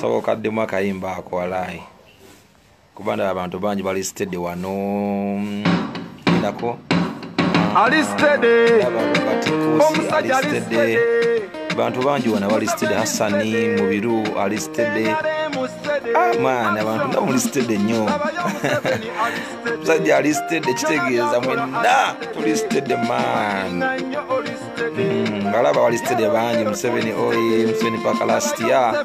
soboka ddemu akayimba ako walaayi kuba ndaba abantu bangi bali stede wano endako ali stede omusajja ali stede abantu bangi wano bali stede hassani mubiru ali stede amaana ah, abantu nga muli stede nnyo musajja ali stede kitegeeza mwenna tuli stede man hmm, ngalaba bali stede bangi museveni oy museveni paka last year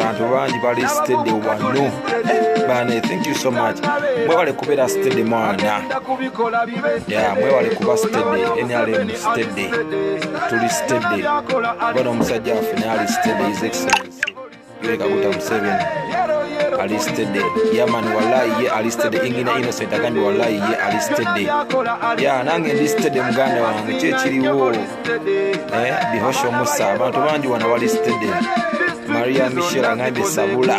bantu bangi bali stede wano bane thank you so much mwebale kubeera stede mwana ya mwebale kuba stede nrm stede tuli stede bona omusajja waffe naali stede is excellence Leka kuta Museveni alistede yaman walayi ye alistede ingina innocent agambye walayi ye alistede ya nange ndistede muganda wange kyekiriwo eh, bihosho musa abantu bangi wano balistede maria michel agambye sabula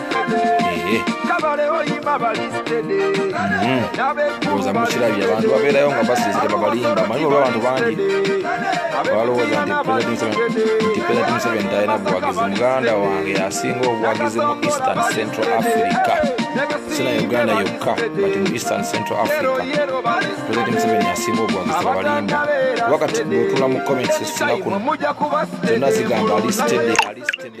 oza mukirabye abantu babeerayo nga basiizire babalimba manyi oba abantu bangi balowooza nti president museveni talina buwagizi muganda wange asinga obuwagizi mu eastern central africa sina uganda yokka but mu eastern central africa president museveni asinga obuwagizi babalimba kuba kati bwotula mu comments esina kuno zonna zigamba alistede alistede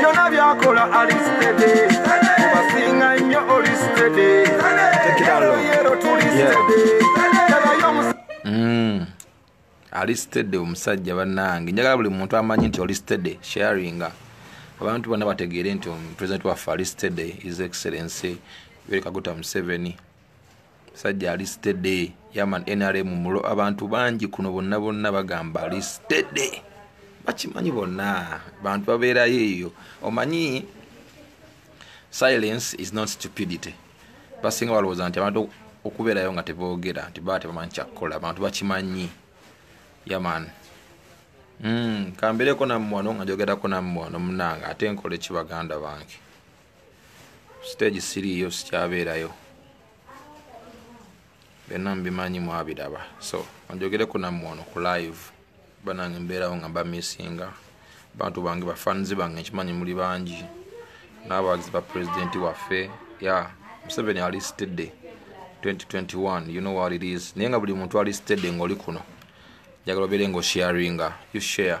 byona byakola alistede obasinga nnyo olistede yero tulistede mm. alistede omusajja banange njagala buli muntu amanyi nti olistede sharinga abantu bonna bategeere nti president waffe alistede is excellency yoweri kaguta museveni sajja ali stede yaman nrm mulo abantu bangi kuno bonna bonna bagamba ali stede bakimanyi bonna bantu babeerayo eyo omanyi silence is not stupidity basinga balowooza nti abantu okubeerayo nga teboogera nti baa tebamanyi kyakukola abantu bakimanyi yaman mm, kambeereko nammwano nga njogerako nammwano munange ate nkole ki baganda bange siteegi siriiyo sikyabeerayo byonna mubimanyi mwabiraba so onjogereko nammwe ono ku live banange mbeerawo nga mbamisinga bantu bange bafanzi bange nkimanyi muli bangi n'abawagizi ba pulezidenti waffe ya museveni ali sitedde 2021 you know what it is naye nga buli muntu ali sitedde ng'oli kuno njagala obeere ng'osharinga you share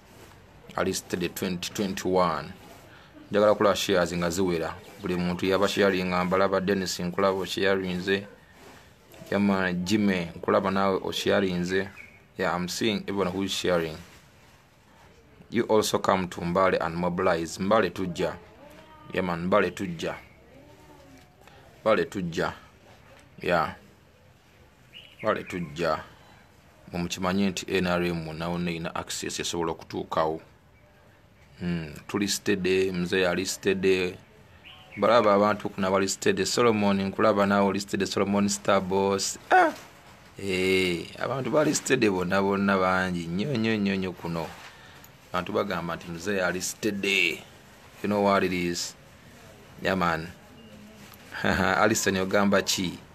alist the 2021 njagala kulaba shares nga ziwera buli muntu yaba sharinga mbalaba denis nkulaba osharinze yama jime nkulaba nawe osharinze yeah, i'm seeing everyone who is sharing you also come to mbale and mobilize mbale tujja yaman mbale tujja mbale tujja yeah kale tujja mwe mukimanye nti nrm nawona erina access esobola okutuukawo hmm, tuli stede mzee ali stede balaba abantu kuna bali stede solomon nkulaba nawe oli stede solomon star boss ah! eh, abantu bali stede bonna bonna bangi nyo nyo nyo nyo kuno abantu bagamba nti mzee ali stede you know what it is yaman yeah, alison ogamba ki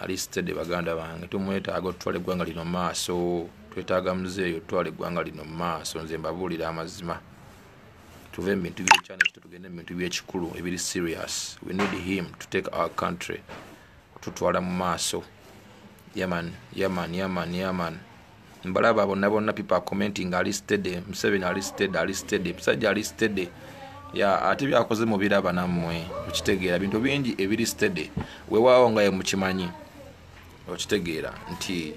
alistede baganda bange tumwetaaga otutwala eggwanga lino mu maaso twetaaga muzeeyo otutwala eggwanga lino mu maaso nze mbabuulira amazima tuve mu bintu byekyana ekito tugende mu bintu byekikulu ebiri serious we need him to take our country kututwala mu maaso yaman yaman yaman yaman mbalaba bonna bonna people are commenting ali steady museveni ali steady ali steady musajja ali steady ya ate byakoze mubiraba nammwe okitegeera bintu bingi ebiri steady wewaawo nga ye mukimanyi okitegeera nti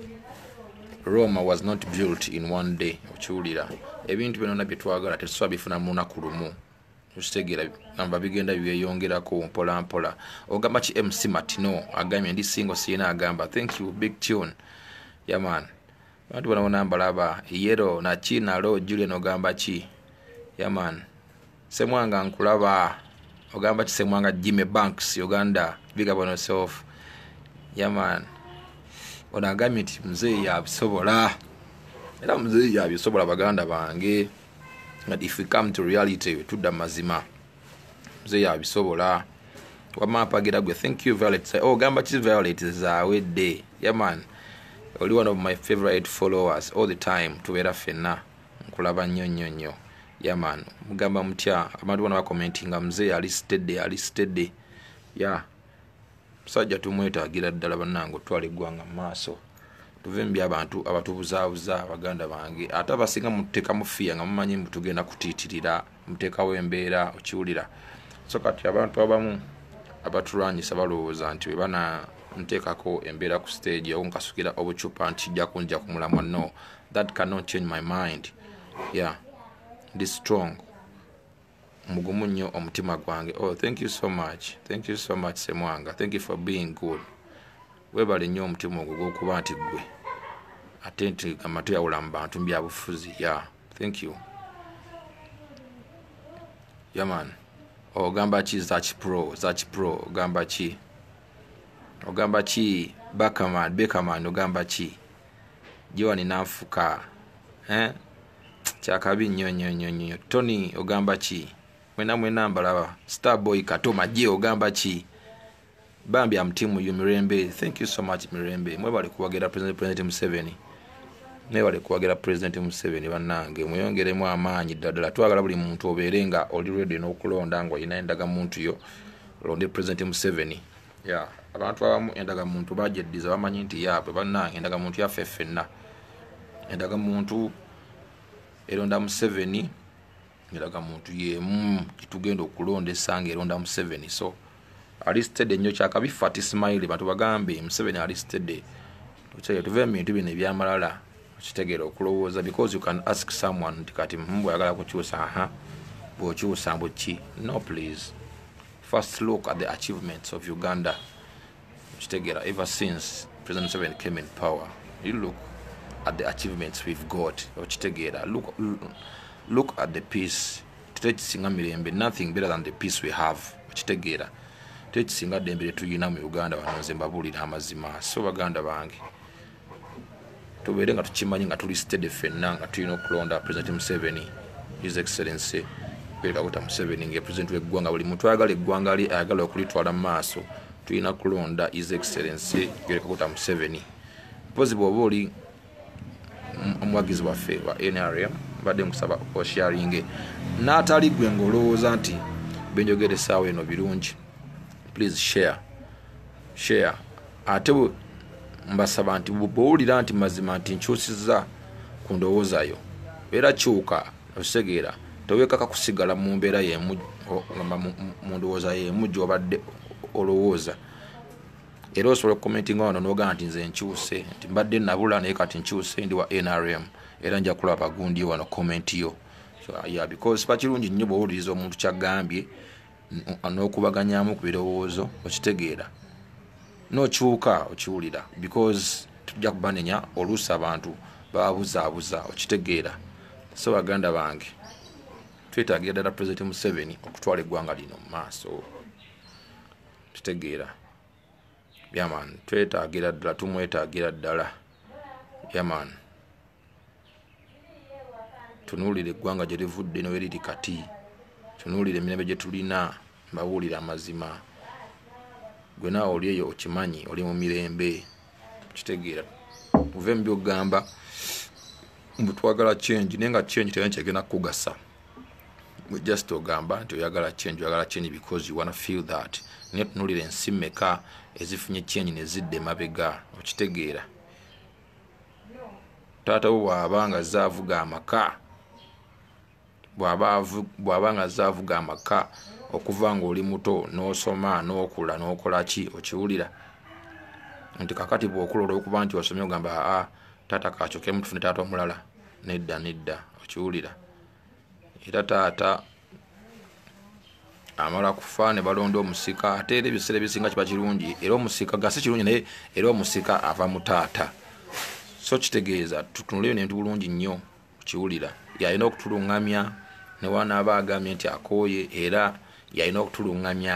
roma was not built in one day okiwulira ebintu byonona byetwagala tetusobola bifuna mu lunaku lumu okitegera namba bigenda byeyongerako mpola mpola ogamba ki mc matino agambye ndi singo siyina agamba thank you big tune yaman bantu bona bona mbalaba yero naki nalo julian ogamba ki yaman semwanga nkulaba ogamba ki semwanga jime banks uganda big up on yourself yaman ono agambye nti muzeeyi yabisobola era muzeeyi yabisobola baganda bange but if we come to reality wetudda mazima mzee yabisobola wama apagira gwe thank you violet oh, ogamba ki violet zawedde yaman oli one of my favorite followers all the time tubeera fenna nkulaba nnyo nnyo nnyo yaman mugamba mutya abantu bona bakomentinga mzee ali stede ali stede ya yeah. musajja tumwetagira ddala banange otwala eggwanga mu maaso tuve mu byabantu abatubuzaabuza baganda bange ate abasinga muteeka mufiya nga mumanyi mbu tugenda kutiitirira muteekawo embeera okiwulira so kati abantu abamu abatulwanyisa balowooza nti webana nteekako embeera ku stage owo nkasukira obucupa nti kijja kunja ku mulamwa no that cannot change my mind yeah ndi strong mugumu nnyo omutima gwange oh thank you so much thank you so much semwanga thank you for being good webale nnyo omutima ogwo gwokuba nti gwe ate nti amatu yawula mu bantu mubyabufuzi ya yeah. thank you yaman oh, ogamba ki zakipro zakipro ogamba ki ogamba ki bakaman bekaman ogamba ki joani nanfuka eh? kyakabi nnyo nnyo nnyo nnyo tony ogamba ki mwena mwena mbalaba star boy kato maje ogamba ki bambi am team you mirembe thank you so much mirembe mwebale kuwagira president president museveni mwebale kuwagira president museveni bannange mweyongeremu amaanyi ddadala twagala buli muntu obeere nga oli redi n'okulonda nga olina endaga muntu yo londe president museveni ya abantu abamu endaga muntu bagyeddiza bamanyi nti yaabwe bannange endaga muntu yaffe ffenna endaga muntu eronda museveni endaga muntu yemu gitugenda okulonda esanga eronda museveni so alistede nnyo kyakabi fati simaili bantu bagambe museveni alistede okyeye tuve mubintu bino ebyamalala okitegeera okulowooza because you can ask someone nti kati mbwayagala kukyusa aha bwokyusa mbuki no please First look at the achievements of Uganda. Chitegera, ever since President Museveni came in power, you look at the achievements we've got. Chitegera, look, look at the peace. Techisinga mirembe, nothing better than the peace we have. Chitegera, techisinga dembe letu yinamu Uganda wanonze mbabuli na mazima. So Uganda bangi. tubeere nga tukimanyi nga tuli stede fenna nga tulina okulonda president museveni his excellency perawuta museveni nga president weggwanga buli muntu ayagala eggwanga lye ayagala okulitwala mu maaso tulina kulonda his excellency yorekakuta museveni mpozi bwoba oli omuwagizi waffe wa nrm mbadde nkusaba osharinge n'atali gwe ngaolowooza nti benjogere esaawa eno birungi please share share ate mbasaba nti bwowulira nti mazima nti nkyusiza ku ndowoozayo beera kyuka okitegeera tewekaka kusigala mu mbeera yemu mu ndowooza yemu gyobadde olowooza era osobola okukomentinga wano nogamba nti nze nkyuse nti mbadde nabula naye kati nkyuse ndi wa nrm era nja kulaba gundi wano komenti yo so, yeah, because bakirungi nnyo bwowuliriza omuntu kyagambye n'okubaganyamu ku birowoozo okitegeera nokyuka okiwulira because tujja kubanenya oluusi abantu babuzaabuza okitegeera so baganda bange twetagira ddala president museveni okutwala eggwanga lino mu maaso kitegeera yaman twetagira ddala tumwetagira ddala yaman tunuulira eggwanga gye livudde ne weriri kati tunuulira emirembe gye tulina mbabuulira amazima gwe naawe oli eyo okimanyi oli mu mirembe kitegeera muve mu byogamba mbu twagala change naye nga change tena kyegenda kukugasa just ogamba nti oyagala change oyagala change because you wanna feel that naye tunuulira ensi meka ezifunye change nezidda emabega okitegeera taata wo bwaba nga azze avuga amaka bwaba nga azze avuga amaka okuva ngaoli muto n'osoma n'okula n'okola ki okiwulira nti kakati bwokula olwokuba nti osomye ogamba aa taata kakyokemu tufune taata omulala nedda nedda okiwulira era taata amala kufa ne balonda omusika ate era ebiseera ebisinga kiba kirungi era omusika gasi kirungi naye era omusika ava mu taata so kitegeeza tutunule ebintu bulungi nnyo kiwulira yalina okutulungamya newanaaba agambye nti akooye era yalina okutulungamya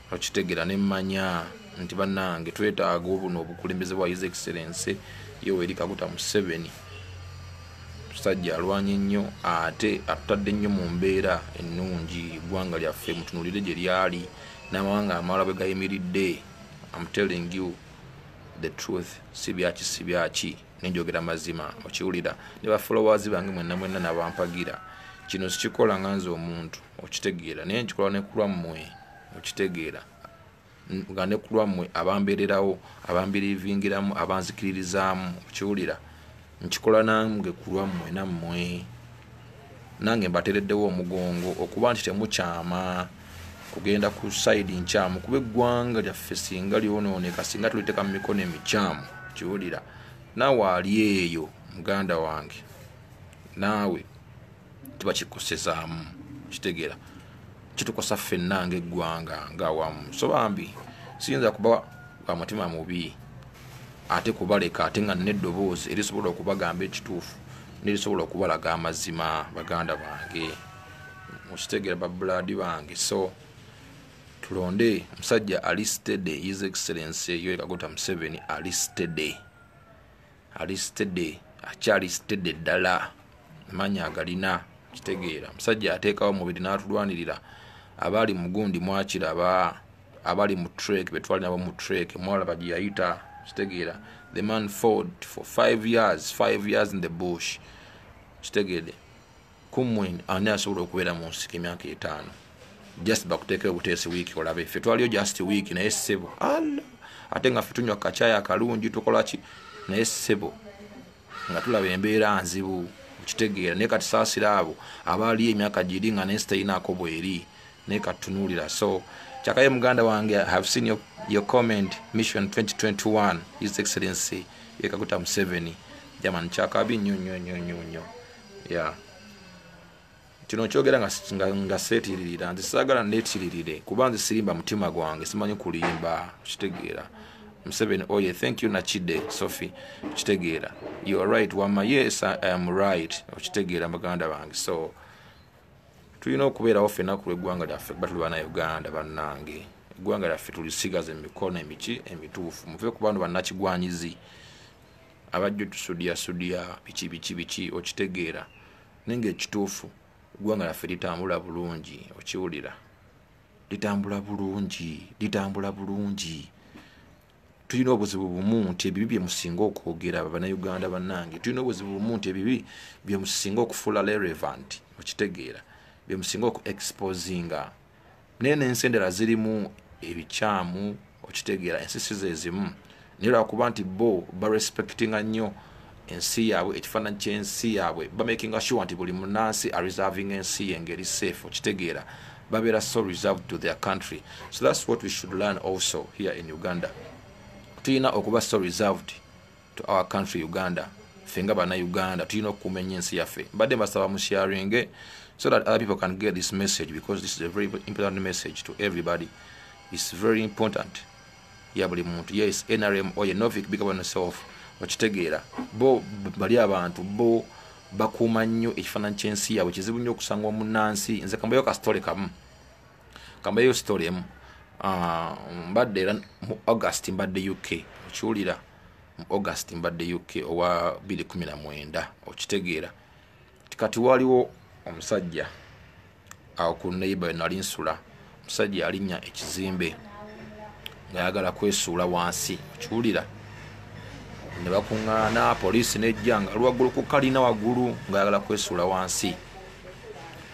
okitegera ne manya nti banange twetaaga obuno obukulembeze bwa his excellence yoweri kaguta museveni musajja alwanye nnyo ate atutadde nnyo mu mbeera ennungi eggwanga lyaffe mutunulire gye lyali n'amawanga amala bwe gayimiridde am telling you the truth si byaki si byaki nenjogera mazima okiwulira ne bafolowers bange mwenna mwenna nabampagira kino sikikola nga nze omuntu okitegeera naye nkikola ne kulwammwe okitegeera nga ne kulwammwe abambeererawo abambirivingiramu abanzikiririzaamu okiwulira nkikola nange kulwammwe nammwe nange mbatereddewo omugongo okuba nti temukyama kugenda ku saidi nkyamu kuba eggwanga lyaffe singa lyonooneka singa tuliteeka mu mikono emikyamu kiwulira naawe ali eyo muganda wange naawe kiba kikosezaamu kitegeera kitukosa ffenna ngaeggwanga ngaawamu so bambi siyinza kuba wa mutima mubi ate kubaleka ate nga nina eddoboozi erisobola okubagamba ekituufu nerisobola okubalaga amazima baganda bange mukitegeera babulaadi bange so tulonde omusajja ali stede his excellence yoekagota museveni ali stede ali sitede akyali sitede ddala amaanyi agalina kitegeera omusajja ateekawo omubiri n'atulwanirira abaali mugundi mwakiraba abali mu trek betwali nabo mu trek mwalaba gye yayita kitegeera the man ford for five years five years in the bush kitegeede kumwe ani asobola okubeera mu nsiko emyaka etaano just bakuteeka obuteesi wiiki olabe ffe twaliyo just wiiki naye ssebo alla ate nga ffe tunywa kakyaya akalungi tukola ki naye ssebo nga tulaba embeera nzibu okitegeera naye katusaasira abo abaaliyo emyaka giri nga naye sitayinaako bweri naye katunuulira so kyakaye muganda wange have seen your, your comment mission 2021 his excellency yekaguta museveni jamani kyakabi nyo nyo nyo nyo nyo ya kino nkyogera nga seetiririra nze saagala neetiririre kuba nze sirimba mutima gwange simanyi kulimba kitegeera museveni oye oh thank you nakide sophie okitegeera you are right wama yes i am right okitegeera baganda bange so tulina okubeerawo fena ku lweggwanga lyaffe kuba tuli bana uganda bannange eggwanga lyaffe tulisigaza emikono emiki emituufu muve ku bantu bannakigwanyizi abajjo tusudiya sudiya biki biki biki okitegeera naye nga ekituufu eggwanga laffe litambula bulungi okiwulira litambula bulungi litambula bulungi tulina obuzibu bumu nti ebibi byemusinga okwogera banauganda banange tulina obuzibu bumu nti ebibi byemusinga okufuula relevant okitegeera byemusinga okuexposinga naye nensi endala zirimu ebikyamu okitegeera ensi si zezimu naye lwakuba nti bo barespectinga nnyo ensi yaabwe ekifaananyi kyensi yaabwe bamakinga sure nti buli munansi areservinga ensi ye ngeri safe okitegeera babeera so reserved to their country so thats what we should learn also here in uganda tulina okuba so reserved to our country uganda ffe nga bana uganda tulina okukuuma ennyo ensi yaffe mbadde mbasaba mu sharinge so that other people can get this message because this is a very important message to everybody its very important ya buli muntu yes nrm oye novic bigabanoself okitegeera bo bali abantu bo bakuuma nnyo ekifaananyi ky'ensi yaabwe kizibu nnyo okusanga omunnansi nze kambayo kasitole kamu kambayo story emu ah, mbadde era mu august mbadde uk okiwulira mu august mbadde uk owa 219 okitegeera kati waliwo omusajja awo ku neighbor nali nsula omusajja yalinnya ekizimbe ngayagala kwesuula wansi okiwulira ne bakuŋŋaana poliisi nejja nga lwaggulu ku kalina waggulu ngayagala kwesuula wansi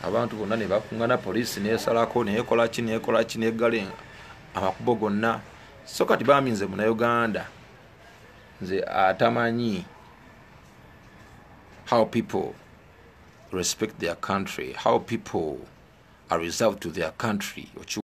abantu bonna ne bakungana poliisi nesalako nekolaki nekolaki negale amakubo gonna so kati bambi nze munauganda nze atamanyi how people respect their country how people are reserved to their country